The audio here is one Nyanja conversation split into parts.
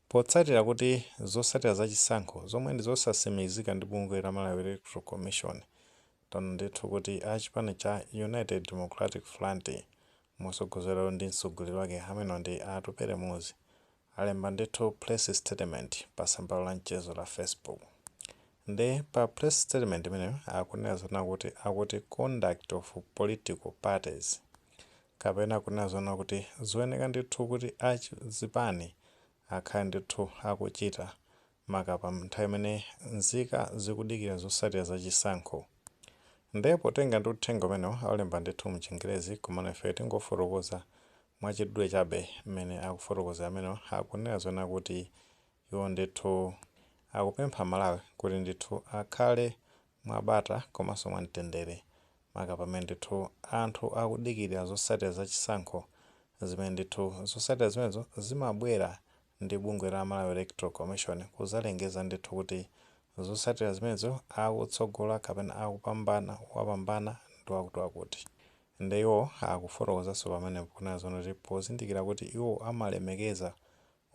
Potsatira kuti zosatira za chisankho zomwe ndi zosasimikizika ndi bungwe la Malawi Electoral Commission taona ndithu kuti a chipani cha United Democratic Front motsogozedwa ndi mtsogoleri wake amene ndi a Atupele Muluzi alemba ndithu press statement pa tsamba lawo la mchezo la Facebook nde pa press statement imeneyo akunena zonena kuti akuti conduct of political parties kapena kunena zoona kuti zoyenera ndithu kuti a zipani akhale ndithu akuchita maka pa nthawi imene nzika zikudikira zosatira za chisankho. Nde potenga ndi uthenga umenewo alemba ndithu mu chingerezi komano ifeyo tingofotokoza mwa chidule chabe mmene akufotokozera amenewo akunena zoona kuti iwo ndithu akupempha amalawi kuti ndithu akhale mwabata komanso mwamtendere maka pamene ndithu anthu akudikirira zotsatira za chisankho zimene ndithu zotsatira zimenezo zimabwera ndi bungwe la Malawi Electoral Commission kudzalengeza ndithu kuti zotsatira zimenezo akutsogola kapena akupambana wapambana ndi wakutiwakuti. Nde iwo akufotokozanso pamenepo kunena zoona kuti pozindikira kuti iwo amalemekeza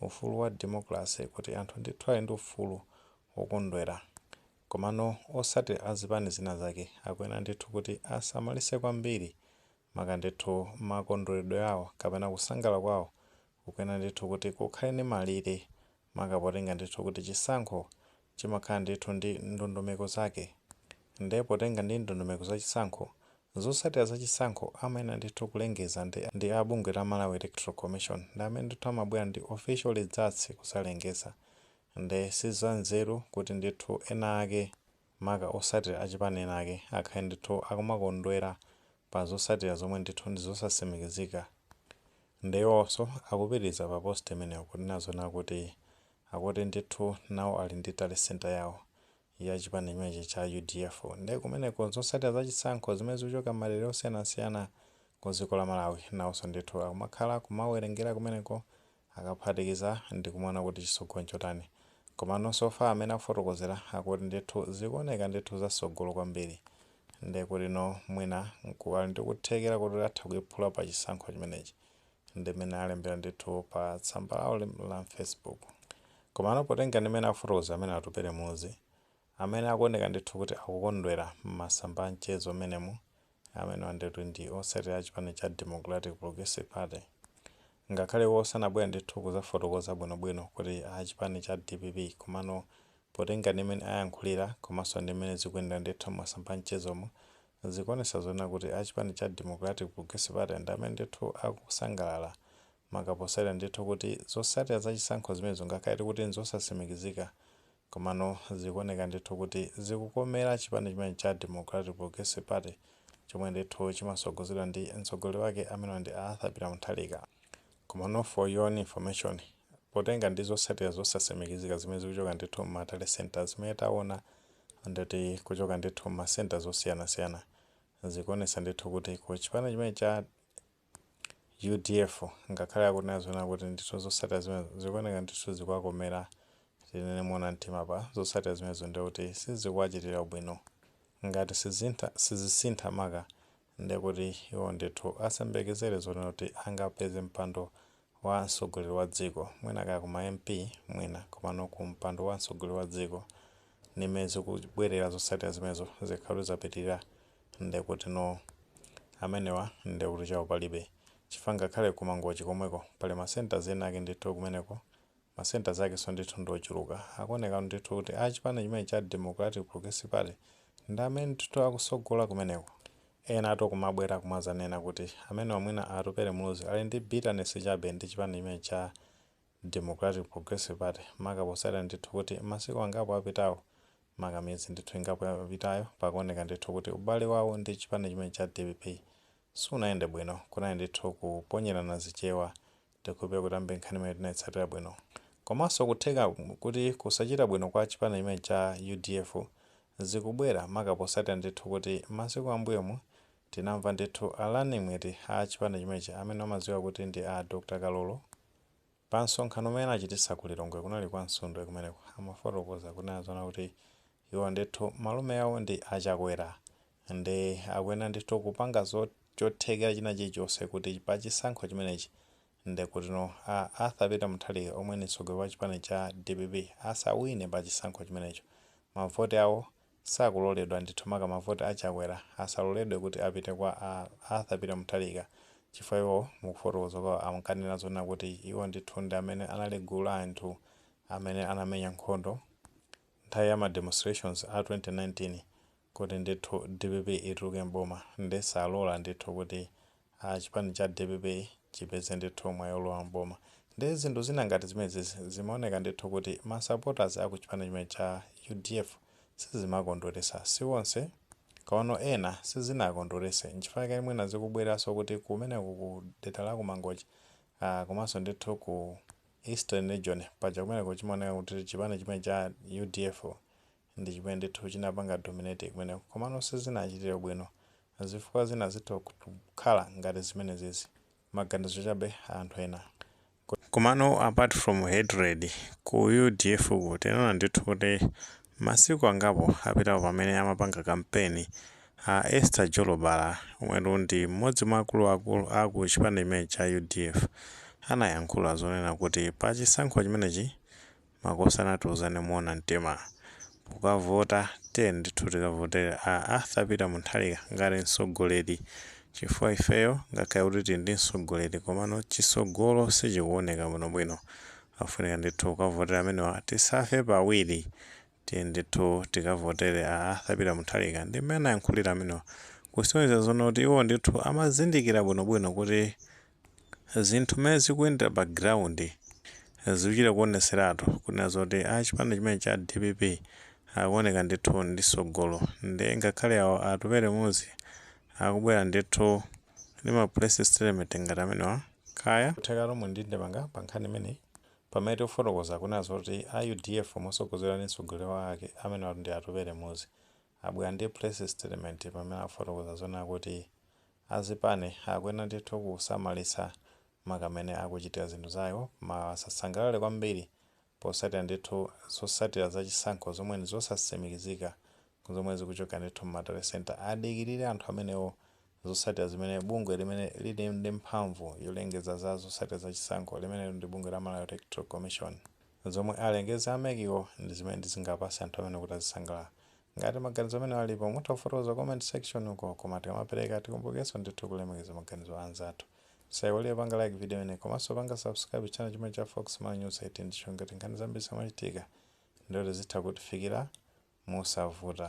ufulu wa democracy kuti anthu ndithu ali ndi ufulu wokondwera komano osati a zipani zina zake akuyenera ndithu kuti asamalise kwambiri maka ndithu makondweredwe awo kapena kusangalala kwawo kukuyenera ndithu kuti kukhale ndi malire maka potenga ndithu kuti chisankho chimakhala ndithu ndi ndondomeko zake nde potenga ndi ndondomeko za chisankho, zotsatira za chisankho amayenera ndithu kulengeza ndi a bungwe la Malawi Electoral Commission ndi amene ndithu amabwera ndi official results kudzalengeza nde si za nzeru kuti ndithu ena ake maka otsatira a chipani ena ake akhale ndithu akumakondwera pa zotsatira zomwe ndithu ndi zosatsimikizika nde iwonso akupitiriza pa post imeneyo kunena zoona kuti akuti ndithu nawo ali ndi tally centre yawo ya chipani chimenechi cha udf nde kumeneko zotsatira za chisankho zimene zikuchoka m'madera osiyanasiyana ku dziko la Malawi nawonso ndithu akumakhala kumawerengera kumeneko akaphatikiza ndi kumaona kuti chitsogolo nchotani komano so far mmene akufotokozera akuti ndithu zikuoneka ndithu za tsogolo kwambiri nde kuti no mwina nku ali ndi kuthekera koti atha kuiphula pa chisankho chimenechi ndimene alembera ndithu pa tsamba lawo lim- la facebook komano potenga ndimene afotokoza amene atupele muluzi amene akuoneka ndithu kuti akukondwera m'masamba a mchezo amenemu amene ndithu ndi otsatira a chipani cha democratic progressive party ngakhale iwo sanabwere ndithu kuzafotokoza bwinobwino kuti a chipani cha dpp komano potenga ndimene ayankhulira komanso ndimene zikuyendera ndithu m'masamba a mchezomo Zikuonesa zonena kuti a chipani cha Democratic Progressive Party ndi amene ndithu akusangalala maka posatira ndithu kuti zosatira za chisankho zimenezo ngakhale eti kuti nzosatsimikizika komano zikuoneka ndithu kuti zikukomera chipani chimene cha Democratic Progressive Party chomwe ndithu chimatsogozedwa ndi mtsogoleri wake amene ndi a Arthur Peter Mutharika. Komano for your own information Potenga ndi zosatira zosasimikizika zimene zikuchoka ndithu mma tally centre zimene tawona ndikuti kuchoka ndithu mma centres osiyanasiyana zikuwonetsa ndithu kuti ku chipani chimene cha udf ngakhale akunena zonena kuti ndithu zosatira zimenezo zikuwoneka ndithu zikuwakomera tinene mowona mtima apa zosatira zimenezo ndekuti sizikuwachitira ubwino ngati sizisintha maka ndiye kuti iwo ndithu asayembekezere zonena kuti angapeze mpando wa mtsogoleri wa dziko, mwina kaya ku ma MP mwina, komano ku mpando wa mtsogoleri wa dziko ndi m'mene zikubwerera zotsatira zimenezo zikakhala kuti zapitirira ndiye kutino amenewa ndiye kuti chawo palibe chifukwa ngakhale ku Mangochi komweko pali ma centres ena ake ndithu kumeneko Ma centres akenso ndithu ndi ochuluka. Akuoneka ndithu kuti a chipani chimenechi cha Democratic Progressive Party ndi amene ndithu akusogola kumeneko. Enatu akumabwera kumadzanena kuti amenewa mwina a Atupele Muluzi ali ndi bitterness chabe ndi chipani chimenechi cha Democratic Progressive Party maka potsatira ndithu kuti masiku angapo apitawo maka miyezi ndithu ingapo yapitayo pakuoneka ndithu kuti ubale wawo ndi chipani chimenechi cha dpp sunayende bwino. Kunali ndithu kuponyerana zichewa Ndikukhulupirira kuti ambiri nkhani imene tinaitsatira bwino. Komanso kutheka kuti kusachita bwino kwa chipani chimene cha udf zikubwera maka posatira ndithu kuti masiku ambuyomu tinamva ndithu a running mate a chipani chimenechi amene amadziwika kuti ndi a Dr Kalulu pa msonkhano umene anachititsa ku Lilongwe kunali kwa Msundwe kumeneko amafotokoza kunena zoona kuti iwo ndithu malume awo ndi a Chakwera Nde akuyenera ndithu kupanga chothekera china chilichonse kuti pa chisankho chimenechi ndekutino a Arthur Peter Mutharika omwe ndi mtsogoleri wa chipani cha dpp asawine pa chisankho chimenecho. Mavoti awo sakuloledwa ndithu maka mavoti a Chakwera asaloledwe kuti apite kwa a Arthur Peter Mutharika chifukwa iwo mukufotokoza kwawo amkanena zonena kuti iwo ndithu ndi amene anali gulu la anthu amene anamenya nkhondo nthawi ya ma demonstrations a 2019 kuti ndithu dpp ituluke m'boma nde salola ndithu kuti chipani cha dpp chipeze ndithu mwayi olowa m'boma nde zinthu zina ngati zimenezizi zimaoneka ndithu kuti ma supporters a ku chipani chimene cha udf sizimawakondweretsa si onse komano ena sizinawakondweretse nchifukwa chake mwina zikubwereranso kuti kumeneko ku dera la ku Mangochi a komanso ndithu ku Eastern region paja kumeneko chimaoneka kuti chipani chimene cha udf ndi chimene ndithu chinapanga dominate kumeneko komano sizinachitire bwino zifukwa zina zitha kukhala ngati zimenezizi maganizo chabe a anthu ena komano apart from hatred ku udf tinaona ndithu kuti Masiku angapo apitawo pamene amapanga kampeni, a Esther Jolobala omwetu ndi m'modzi mwa akulu akulu aku chipani chimenechi cha udf anayankhula zonena kuti pa chisankho chimenechi makosana tiuzane moona mtima pokavota tiyeni ndithu tikavotere a Arthur Peter Mutharika ngati mtsogoleri chifukwa ifeyo ngakhale kuti tili ndi mtsogoleri komano chitsogolo sichikuoneka bwinobwino Afunika ndithu kukavotera amenewa tisafe pawiri tiyeni ndithu tikavotere a Arthur Peter Mutharika ndi mmene anayankhulira amenewa kusonyeza zoona kuti iwo ndithu amazindikira bwinobwino kuti zinthu mmene zikuyendera pa ground zikuchita kuoneseratu kunena zoti a chipani chimene cha dpp akuoneka ndithu ndi tsogolo nde ngakhale awo Atupele Muluzi akubwera ndithu ndi ma press statement ngati amenewa kaya kutheka muli ndi ndemanga pa nkhani imeneyi? Pamene tikufotokoza kunena zoti a udf motsogozedwa ndi mtsogoleri wake amenewa ndi Atupele Muluzi abwera ndi press statement pamene akufotokoza zonena kuti a zipani akuyenera ndithu kusamalitsa maka mmene akuchitira zinthu zawo maka asasangalale kwambiri potsatira ndithu zotsatira za chisankho zomwe ndizosatsimikizika zomwe zikuchoka ndithu m'ma tally centre, adikilire anthu amenewo zotsatira zimene bungwe limene lili ndi mphamvu yolengeza za zotsatira za chisankho limene ndi bungwe la Malawi Electoral Commission, zomwe alengeze a mec wo ndi zimene zingapatse anthu amenewo kuti azisangalala. Ngati maganizo amenewo alipo mutha kufotokoza ku comment section uko koma tikamapereka tikumbukirenso ndithu kulemekeza maganizo a anzathu. Musaiwale kupanga like video yi komanso kupanga subscribe channel chimene cha Fox Malawi News 18 ndi cholinga choti nkhani zambiri zimachitika ndiye kuti zitha kutifikira mosavuta.